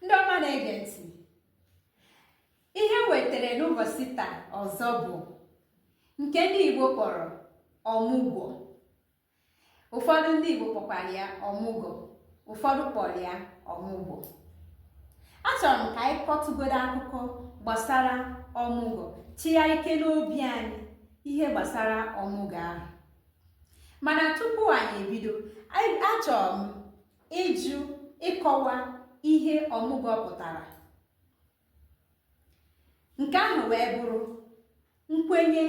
ndị ọma na-ege ntị ihe wetara n'ụbọchị taa ọzọ bụ nke ndị Igbo kpọrọ ọmụgwọ ụfọdụ ndị Igbo kpọkwara ya ọmụgọ ụfọdụ kpọrọ ya ọmụgwọ achọrọ m ka anyị kọtụgodo akụkọ gbasara ọmụgwọ chịa ike n'obi anyị ihe gbasara ọmụgwọ ahụ mana tupu anyị ebido achọrọ m ịjụ ịkọwa ihe ọmụgwọ pụtara nke ahụ wee bụrụ nkwenye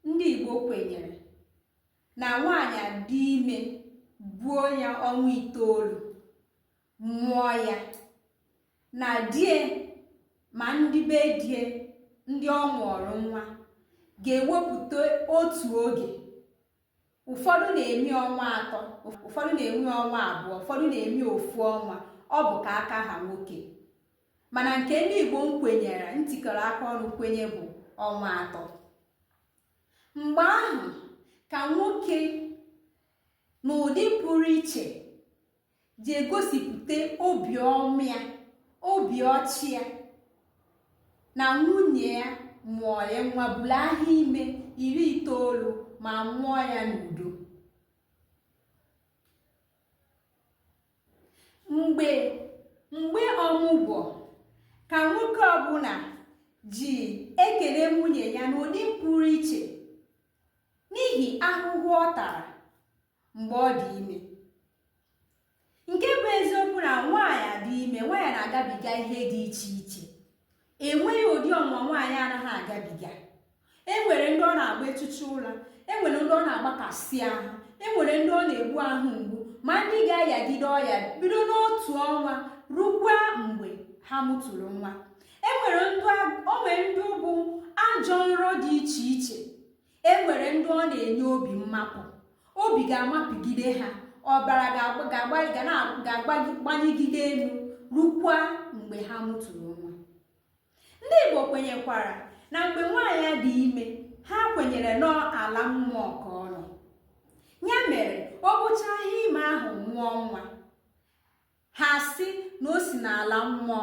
ndị Igbo kwenyere na nwaanyị dị ime buo ya ọnwa itoolu mụọ ya na di ya ma ndị be di ya ndị ọ mụọrọ nwa ga-ewepụta otu oge ụfọdụ na-eme ọnwa atọ ụfọdụ na-eme ọnwa abụọ ụfọdụ na-eme ofu ọnwa ọ bụ ka aka ha nwoke mana nke ndị Igbo nkwenyere ntikọrọ aka ọnụ kwenye bụ ọnwa atọ mgbe ahụ ka nwoke n'ụdị pụrụ iche ji egosipụta obiọma ya obi ọchị ya na nwunye ya mụọ ya nwa buru ahọ ime iri itoolu ma mụọ ya n'udo mgbe mgbe ọmụgwọ ka nwoke ọbụla ji ekele nwunye ya n'ụdị pụrụ iche n'ihi ahụhụ ọ tara mgbe ọ dị ime nke bụ eziokwu na nwaanyị dị ime nwaanyị na-agabiga ihe dị iche iche enweghị ụdị ọnwụnwa nwaanyị anaghị agabiga enwere ndị ọ na-agba echichi ụra enwere ndị ọ na-agbakasị ahụ enwere ndị ọ na-egbu ahụ mgbu ma ndị ga-ayagide ọya bido n'otu ọnwa rukwa mgbe ha mụtụrụ nwa enwere ndị bụ ajọ nrọ dị iche iche e nwere ndị ọ na-enye obi mmapụ obi ga-amapụgide ha ọbara ga-agbanyegide elu rukwa mgbe ha mụtụrụ nwa ndị Igbo kwenyekwara na mgbe nwaanyị dị ime ha kwenyere n'ala mmụọ ka ọ nọ ya mere o buchaa ahọ ime ahụ mụọ nwa ha sị na o si n'ala mmụọ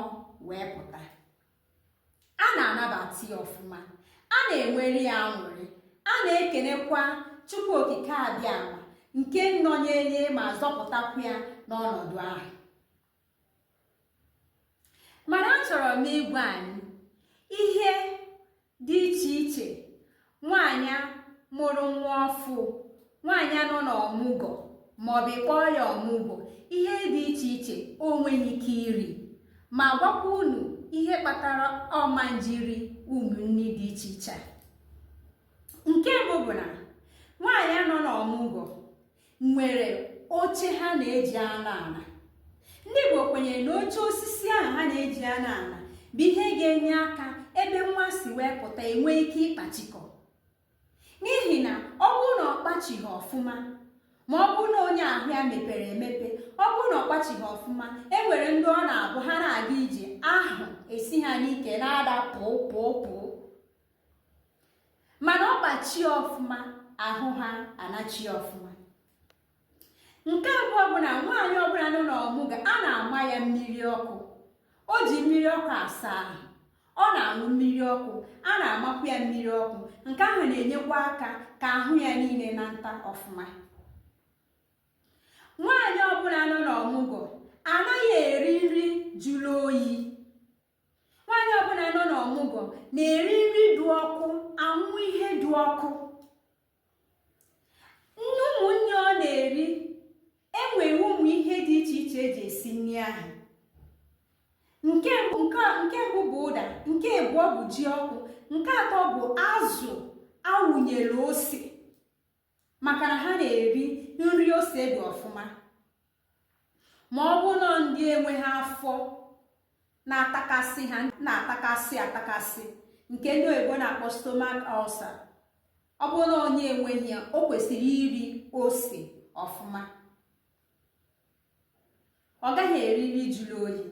wee pụta a na-anabata ya ọfụma a na-enwere ya aṅụrị a na-ekenekwa Chukwu okike abịama nke nọnyere ma zọpụtakwu ya n'ọnọdụ ahụ mana achọrọ m ịgwa anyị ihe dị iche iche nwaanyị mụrụ nwa ọfụ nwaanyị nọ na ọmụgọ maọbụ ị kpọọ ya ọmụgwọ ihe dị iche iche o nweghị ike iri ma gwakwa unu ihe kpatara ọ na-eji eri ụmụ nni dị iche iche nke mbụ bụ na nwaanyị nọ na ọmụgwọ nwere oche ha na-eji anọ ala ndị Igbo kwenyere na oche osisi ahụ ha na-eji anọ ala bụ ihe ga-enye aka ebe nwa si wee pụta enwee ike ịkpachikọ n'ihi na ọ bụrụ na ọ kpachighị ọfụma ma ọ bụrụ na onye ahụ ya mepere emepe ọ bụrụ na ọ kpachighị ọfụma e nwere ndị ọ na-abụ ha na-aga ije ahụ esi ha n'ike na-ada pụọ pụọ pụọ mana ọ kpachie ọfụma ahụ ha anachie ọfụma nke abụọ bụ na nwaanyị ọbụla nọ n'ọmụgọ a na-ama ya mmiri ọkụ o ji mmiri ọkụ asa ahụ ọ na-aṅụ mmiri ọkụ a na-amakwu ya mmiri ọkụ nke ahụ na-enyekwa aka ka ahụ ya niile nata ọfụma nwaanyị ọbụla nọ n'ọmụgwọ anaghị eri nri jụrụ oyi nwaanyị ọbụla nọ n'ọmụgwọ na-eri nri dị ọkụ aṅụ ihe dị ọkụ ụmụ nni ọ na-eri enwere ụmụ ihe dị iche iche eji esi nri ahụ nke mbụ bụ ụda nke abụọ bụ ji ọkụ nke atọ bụ azụ awụnyere ose maka na ha na-eri nri ose dị ọfụma ma ọ bụrụ na ndị enweghị afọ na-atakasị ha na-atakasị atakasị nke ndị oyibo na-akpọ stomach ulcer ọ bụrụ na onye enweghị ya o kwesịrị iri ose ọfụma ọ gaghị eri nri jụrụ oyi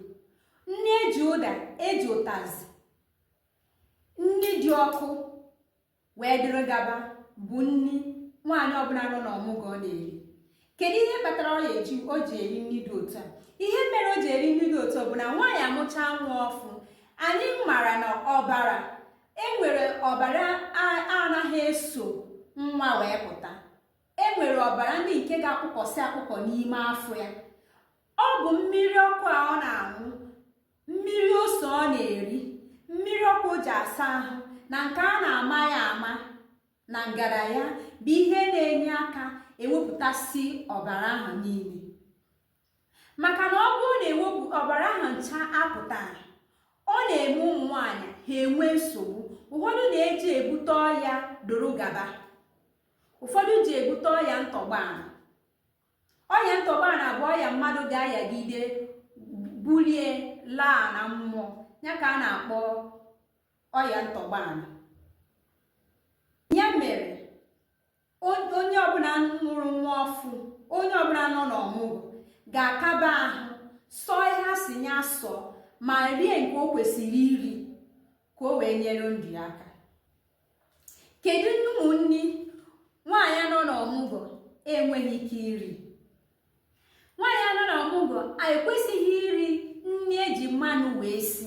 nri eji ụda eji ụtazị nri dị ọkụ wee dịrị gaba bụ nri nwaanyị ọbụla nọ n'ọmụgwọ na-eri kedu ihe kpatara ọ ga-eji o ji eri nri dị otu a ihe mere o ji eri nri dị otu bụ na nwaanyị amụchaa nwa ọfụ anyị mara na ọbara enwere ọbara anaghị eso nwa wee pụta enwere ọbara ndị nke ga-akpụkọsị akpụkọ n'ime afọ ya ọ bụ mmiri ọkụ a ọ na-aṅụ mmiri ose ọ na-eri mmiri ọkụ o ji asa ahụ na nke a na-ama ya ama na ngada ya bụ ihe na-enye aka ewepụtasị ọbara ahụ niile maka na ọ bụrụ na ewepụ ọbara ahụ ncha apụtaghị ọ na-eme ụmụ nwaanyị ha enwe nsogbu ụfọdụ na-eji ebute ọya dịrị gaba ụfọdụ ji ebute ọya ntọgba ọya ntọgbana bụ ọya mmadụ ga-ayagide bulie laa na mmụọ ya ka a na-akpọ ọya ntọgbana ya mere onye ọbụla mụrụ nwa ọfụ onye ọbụla nọ n'ọmụgwọ ga-akaba ahụ sọ ihe a sị ya sọ ma rie nke o kwesịrị iri ka o wee nyere ndụ ya aka kedu ụmụ nni nwaanyị nọ n'ọmụgwọ enweghị ike iri nwaanyị nọ n'ọmụgwọ ekwesịghị iri nri eji mmanụ wee si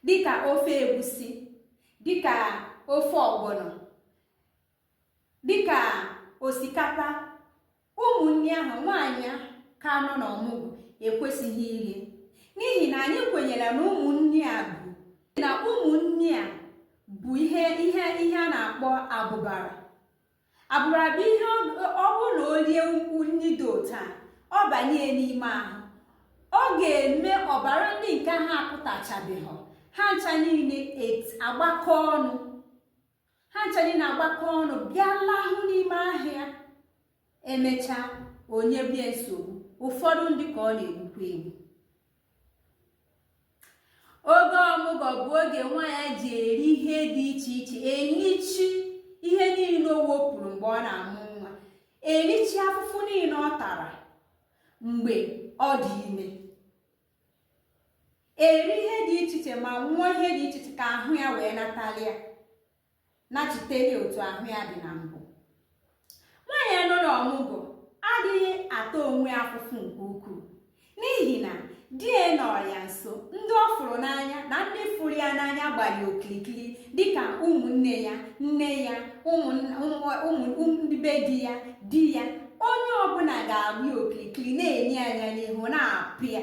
dịka ofe egusi dịka ofe ọgbọnọ dịka osikapa ụmụ nni ahụ nwaanyị ka nọ n'ọmụgwọ ekwesịghị iri n'ihi na anyị kwenyere na ụmụ nni a bụ na ụmụ nni a bụ ihe ihe a na-akpọ abụbara abụbara bụ ihe ọ bụ na o rie ụmụ nni dị otu a ọ banye n'ime ahụ ọ ga-eme ọbara ndị nke ha apụtachabeghị ha ncha niile agbakọ ọnụ ha ncha niile agbakọ ọnụ bịa lahụ n'ime ahụ ya emechaa o nyebe ya nsogbu ụfọdụ ndị ka ọ na-egbukwa egbu oge ọmụgwọ bụ oge nwaanyị ji eri ihe dị iche iche erichi ihe niile o wepụrụ mgbe ọ na-amụ nwa erichi afụfụ niile ọ tara mgbe ọ dị ime eri ihe dị iche iche ma nwụọ ihe dị iche iche ka ahụ ya wee natalịa nachiteli otu ahụ ya dị na mbụ nwaanyị nọ n'ọmụgwọ adịghị ata onwe ya afụfụ nke ukwuu n'ihi na di ya nọ ya nso ndị ọ fụrụ n'anya na ndị fụrụ ya n'anya gbara ya okirikiri dịka ụmụnne ya nne ya ụmụ ndị be di ya di ya onye ọbụla ga-agba ya okirikiri na-ene ya anya n'ihu na-apụ ya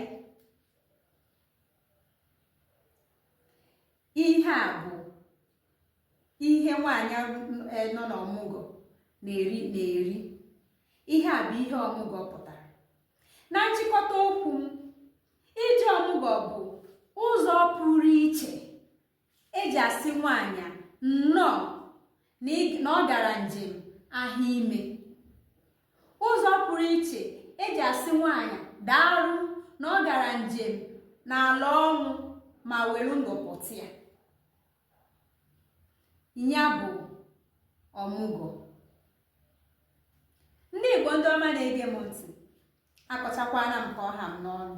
ihe a bụ ihe nwaanyị eh, nọ n'ọmụgwọ na-eri ihe a bụ ihe ọmụgwọ pụtara na nchịkọta okwu m ije ọmụgwọ bụ ụzọ pụrụ iche eji asị nwaanyị nnọọ na ọ gara njem ahụ ime ụzọ pụrụ iche eji asị nwaanyị daalụ na ọ gara njem n'ala ọnwụ ma were ndụ pụta ya bụ ọmụgwọ ndị igbo ndị ọma na-ege m ntị akọchakwana m ka ọ ha m n'ọnụ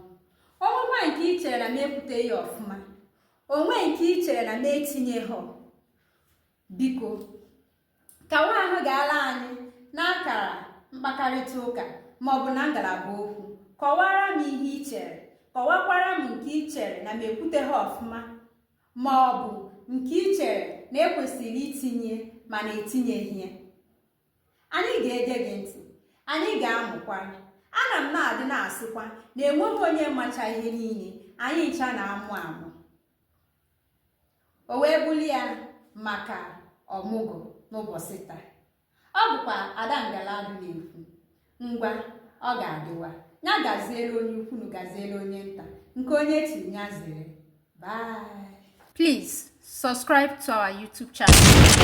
o nwekwaa nke i chere na m ekwuteghị ọfụma o nwee nke i chere na m etinyeghị biko kawa ahụ ga-ala anyị n'akara mkpakarịta ụka maọbụ na ngalaba okwu kọwara m ihe i chere kọwakwara m nke i chere na m ekwuteghị ọfụma maọbụ nke i chere na e kwesịrị itinye mana etinyeghị ya anyị ga-ege gị ntị anyị ga-amụkwa ana m na-adị na-asịkwa na enweghị onye macha ihe niile anyị ncha na-amụ amụ o wee bụrụ ya maka ọmụgwọ n'ụbọchị taa ọ bụkwa ada ngala dụ na-ekwu ngwa ọ ga-adịwa ya gaziere onye ukwu ya gaziere onye nta nke onye tiri ya zere bye please subscribe to our youtube channel